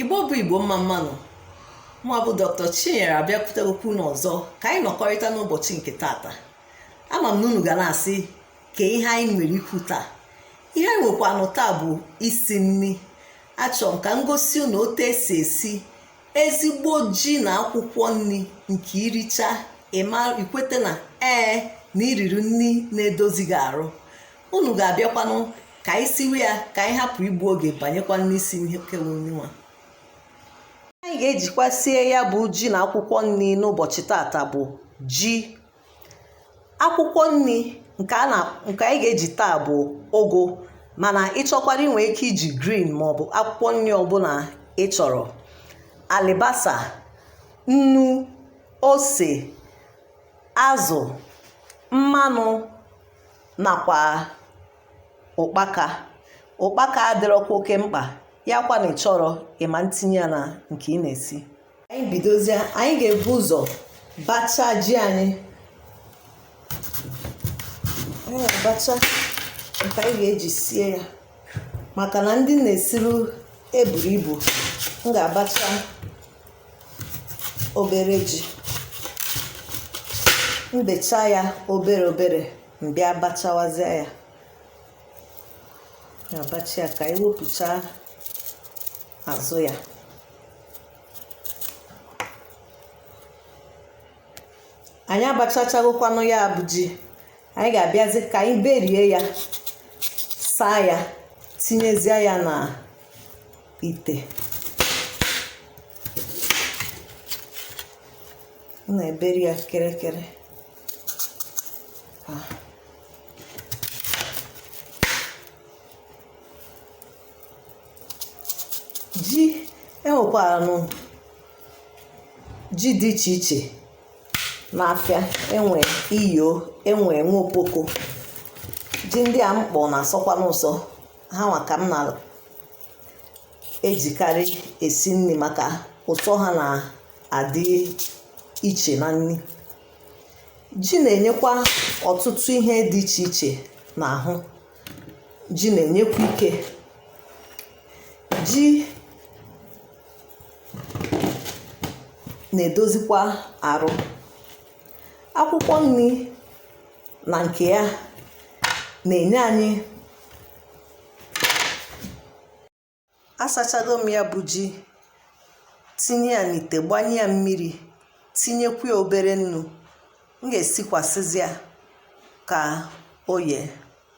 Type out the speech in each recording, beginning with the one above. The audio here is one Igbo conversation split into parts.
igbo bụ igbo mma mma nụ mụnwa bụ dr chinyere abịakwutekwukwa unu ọzọ ka anyị nọkọrịta n'ụbọchị nke tata ama m na unu ga na-asị kee ihe anyị nwere ikwu taa ihe anyị nwekwanụ taa bụ isi nri achọrọ m ka m gosi unu otu e si esi ezigbo ji na akwụkwọ nri nke i richa i kwete na ee na i riri nri na-edozi gị arụ unu ga-abịakwanụ ka anyị siwe ya ka anyị hapụ igbu oge banyekwa n'isi ihe kewe onye nwa anyị ga-ejikwa sie ya bụ ji na akwụkwọ nri n'ụbọchị tata bụ ji akwụkwọ nri nke anyị ga-eji taa bụ ụgụ mana ị chọkwara i nwee ike iji green maọbụ akwụkwọ nri ọbụla ị chọrọ alibasa nnu ose azụ mmanụ nakwa ụkpaka ụkpaka adịrọkwa oke mkpa ya kwa na ị chọrọ ị ma ntinye ya na nke ị na-esi anyị bidozie anyị ga-ebu ụzọ bacha ji anyị anyị ga-abacha nke anyị ga-eji sie ya maka na ndị m na-esiru eburọ ibu m ga-abacha obere ji m becha ya obere obere m bịa bachawazie ya abacha ya ka e wepụcha azụ ya anyị abachachagokwanụ ya bụ ji anyị ga-abịazi ka anyị berie ya saa ya tinyezie ya na ite m na-eberi ya kịrịkịrị ji e nwekwaranụ ji dị iche iche n'afịa e nwee iyo e nwee nwokpoko ji ndị a m kpọ na-asọkwanụ ụsọ ha nwa ka m na ejikarị esi nri maka ụsọ ha na-adị iche na nri ji na-enyekwa ọtụtụ ihe dị iche iche n'ahụ ji na-enyekwa ike ji na-edozikwa arụ akwụkwọ nri na nke ya na-enye anyị asachago m ya bụ ji tinye ya n'ite gbanye ya mmiri tinyekwu ya obere nnu m ga-esikwasịzi ya ka o yee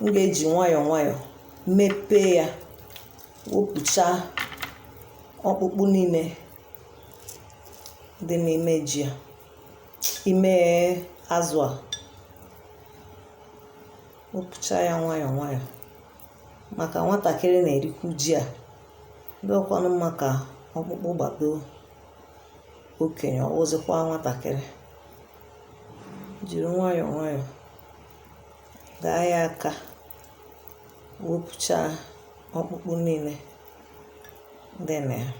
m ga-eji nwayọọ nwayọọ mepee ya wepụcha ọkpụkpụ niile dị n'ime ji a ime azụ a wepụcha ya nwayọọ nwayọọ maka nwatakịrị na-erikwu ji a ọ dịrọkwanụ mma ka ọkpụkpụ gbado okenye ọ wụzịkwa nwatakịrị jiri nwayọọ nwayọọ gaa ya aka wepụchaa ọkpụkpụ niile dị na ya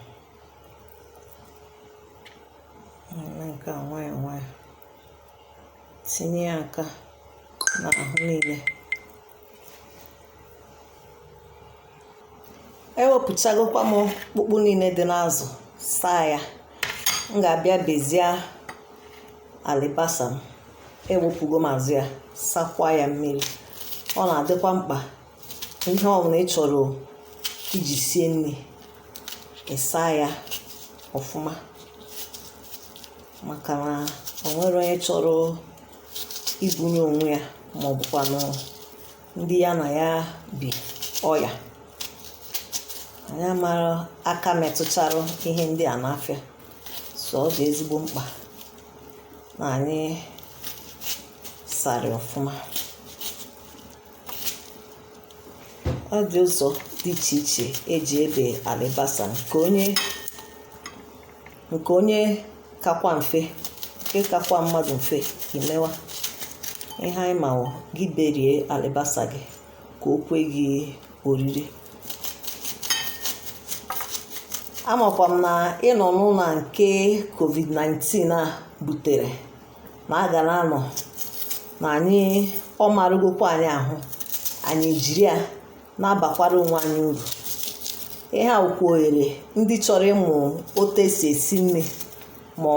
nke a nwayọọ nwayọọ tinye ya aka n'ahụ niile ewepụchagokwa m ọkpụkpụ niile dị n'azụ saa ya m ga-abịa bezie alibasa m ewepụgo m azụ ya sakwa ya mmiri ọ na-adịkwa mkpa ihe ọbụla ị chọrọ iji sie nri ịsa ya ọfụma maka na o nwerọ onye chọrọ ibunye onwe ya ma ọ bụkwanụ ndị ya na ya bi ọya anyị amarọ aka metụchara ihe ndị a n'afịa so ọ dị ezigbo mkpa na anyị sara ọfụma ọ dị ụzọ dị iche iche eji ebe alibasa nke onye nke onye kakwa mfe nke kakwa mmadụ mfe imewa ihe anyị ma wụ gị berie alibasa gị ka o kwe gị oriri amakwa m na ịnọ n'ụlọ nke covid-19 a butere na a ga na-anọ na anyị ọ maragokwa anyị ahụ anyị jiri ya na-abakwara onwe anyị uru ihe a wụkwa ohere ndị chọrọ ịmụ otu esi esi nri ma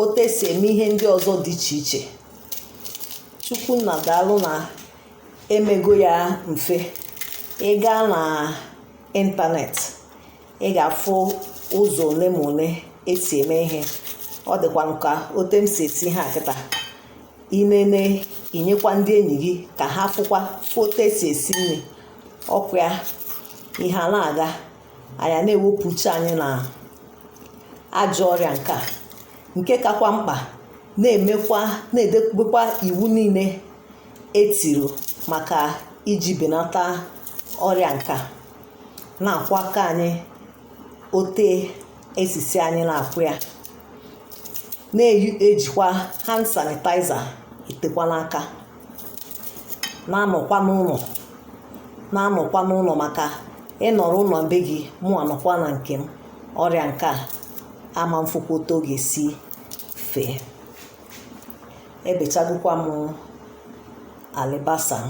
otu esi eme ihe ndị ọzọ dị iche iche chukwu nna daalụ na emego ya mfe ị gaa na ịntanetị ị ga-afụ ụzọ ole ma ole esi eme ihe ọ dịkwanụ ka otu m si esi ihe a kịta i nene i nyekwa ndị enyi gị ka ha fụkwa otu esi esi nri ọkwa ya ihe a na-aga anyị na-ewepụ uche anyị na ajọ ọrịa nke a nke kakwa mkpa na-edebekwa iwu niile etiri maka iji benata ọrịa nke a na-akwọ aka anyị otu e si sị anyị na-akwọ ya na-ejikwa hand sanitizer etekwa n'aka na-anọkwa n'ụlọ na-anọkwa n'ụlọ maka ị nọrọ ụlọ be gị mụ anọkwa na nke m ọrịa nke a ama mfụkwa otu ọ ga-esi fee ebechagokwa m alibasa m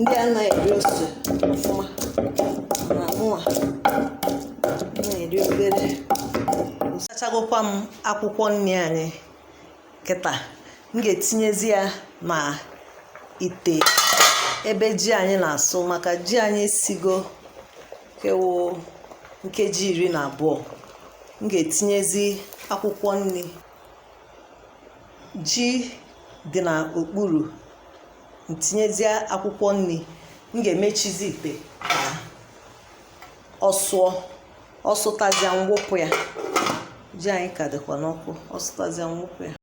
ndị anaghị eri ose ọfụma na mụnwa na-eri obere asachagokwa m akwụkwọ nri anyị kịta m ga-etinyezi ya na ite ebe ji anyị na-asụ maka ji anyị esigo kewo nkeji iri na abụọ m ga-etinyezi akwụkwọ nri ji dị n'okpuru m tinyezie akwụkwọ nri m ga-emechizi ite ka ọ sụọ ọ sụtazịa m wụpụ ya ji anyị ka dịkwa n'ọkụ ọ sụtazịa m wụpụ ya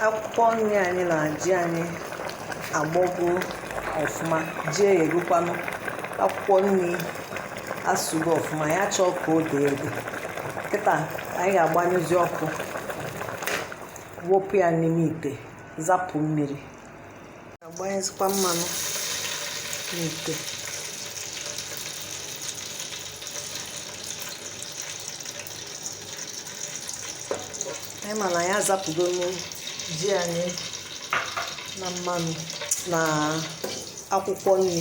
akwụkwọ nri anyị na ji anyị agbọgo ọfụma ji eghegokwanụ akwụkwọ nri asụgo ọfụma ya chọọ ka o dee ede kịta anyị ga-agbanyụzi ọkụ wụpụ ya n'ime ite zapụ mmiri agbanyezikwa mmanụ n'ite anyị ma na ya azapụgo mmiri ji anyị na mmanụ na akwụkwọ nri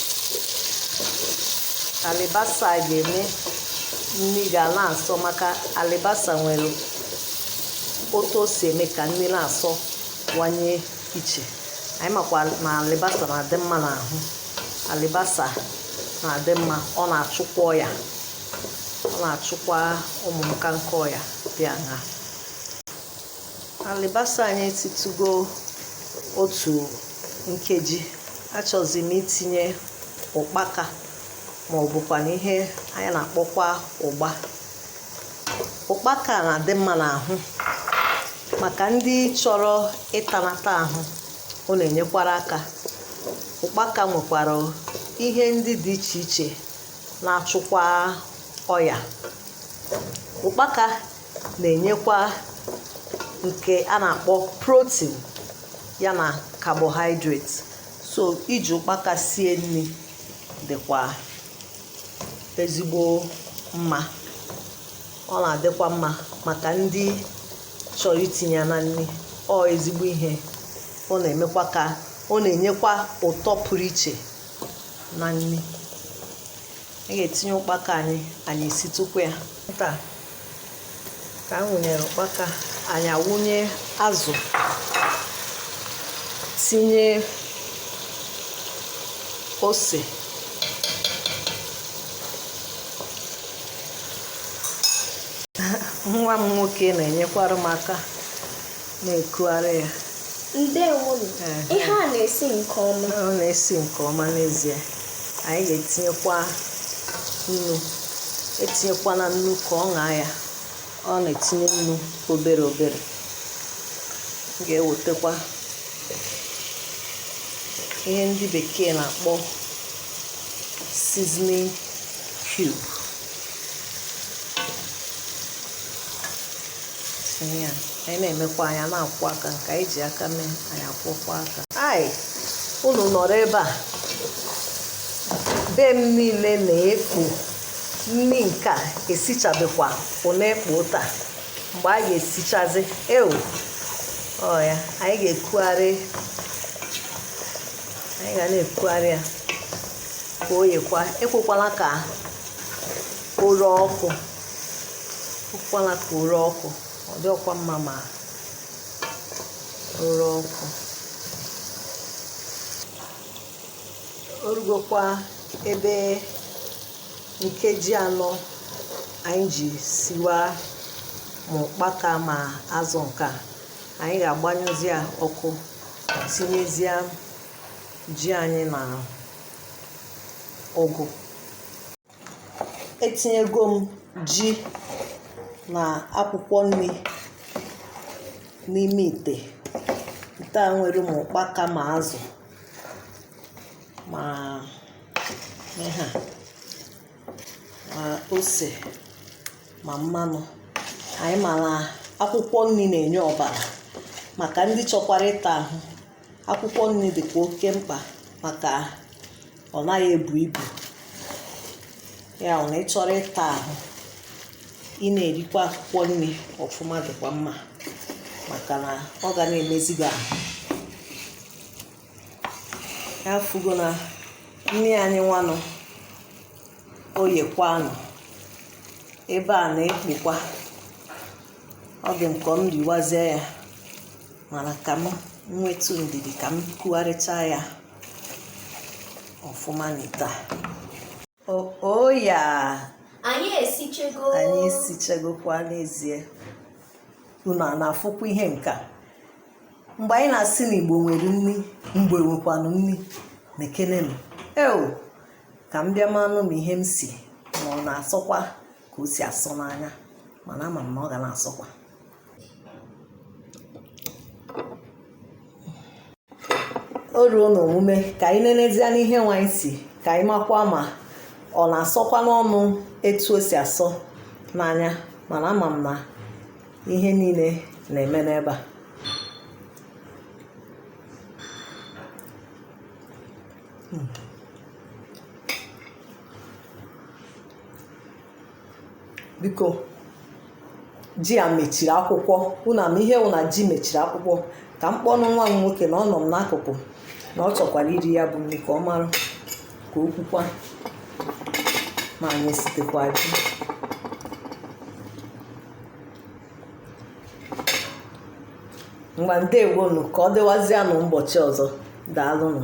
alibasa a ga-eme nri ga na-asọ maka alibasa nwere otu o si eme ka nri na-asọwanye iche anyị makwa na alibasa na-adị mma n'ahụ alibasa na-adị mma ọ na-achụkwa ọya ọ na-achụkwa ụmụ nka nke ọya dị aṅaa alibasa anyị etitugo otu nkeji achọzi m itinye ụkpaka ma ọ bụkwanụ ihe anyị na-akpọkwa ụgba ụkpaka na-adị mma n'ahụ maka ndị chọrọ ịtanata ahụ ọ na-enyekwara aka ụkpaka nwekwara ihe ndị dị iche iche na-achụkwa ọya ụkpaka na-enyekwa nke a na-akpọ protein ya na carbohydrate so iji ụkpaka sie nri dịkwa ezigbo mma ọ na-adịkwa mma maka ndị chọrọ itinye na nri ọ ezigbo ihe ọ na-emekwa ka ọ na-enyekwa ụtọ pụrụ iche na nri a ga-etinye ụkpaka anyị anyị esitụkwa ya ka m wụnyere ụkpaka anyị awụnye azụ tinye ose nwa m nwoke na-enyekwara m aka na-ekugharị ya ndewonu Ehe. ihe a na-esi nke ọma ọ na-esi nke ọma n'ezie anyị ga-etinyekwa nnu etinyekwana nnu ka ọ ṅaa ya ọ na-etinye nnu obere obere M ga-ewetakwa ihe ndị bekee na-akpọ seasoning cube ihe a anyị na-emekwa anyị ana-akwọ aka nke anyị ji aka mee anyị akwọkwa aka a sị unu nọrọ ebe a be m niile na-ekpo nri nke a esichabekwa ọ na-ekpo otu a mgbe a ga-esichazi ewu oya anyị ga-ekugharị anyị ga na-ekugharị ya ka o yekwa ekwekwala ka o ree ọkụ ekwala ka o ree ọkụ ọ dịrọkwa mma ma o ree ọkụ o rugokwa ebe nkeji anọ anyị ji siwa ma ụkpaka ma azụ nke a anyị ga-agbanyụzi ya ọkụ tinyezie ji anyị na ụgụ etinyego m ji na akwụkwọ nri n'ime ite ite a nwere ma ụkpaka ma azụ ma ihe a ma ose ma mmanụ anyị mara akwụkwọ nri na-enye ọbara maka ndị chọkwara ịta ahụ akwụkwọ nri dịkwa oke mkpa maka ọ naghị ebu ibu ya wụ na ị chọrọ ịta ahụ ị na-erikwa akwụkwọ nri ọfụma dịkwa mma maka na ọ ga na-emezi gị ahụ ị afụgo na nri anyị nwanụ oyekwanụ ebe a na-ekpokwa ọ dị m ka m riwazie ya mana ka m nwetụ ndidi ka m kugharịcha ya ọfụma n'ite a oya anyị esichego anyị esichagokwa n'ezie unu a na-afụkwa ihe nke a mgbe anyị na-asị na igbo nwere nri igbo nwekwanụ nri nekenenụ eo ka m bịa manụ m ihe m si ma ọ na-asọkwa ka o si asọ n'anya mana ama m na ọ ga na-asọkwa o ruo n'omume ka anyị nenezie n'ihe nwa anyị si ka anyị makwa ma ọ na-asọkwa n'ọnụ etu o si asọ n'anya mana ama m na ihe niile na-eme n'ebe a Mm. biko ji a mechiri akwụkwọ unu ama ihe wụ na ji mechiri akwụkwọ ka m kpọnụ nwa m nwoke na ọ nọ m n'akụkụ na ọ chọkwara iri ya bụ nri ka ọ mara ka o kwukwa ma anyị esitekwa ji ngwa ndewonu ka ọ dịwazianụ ụbọchị ọzọ daalụnụ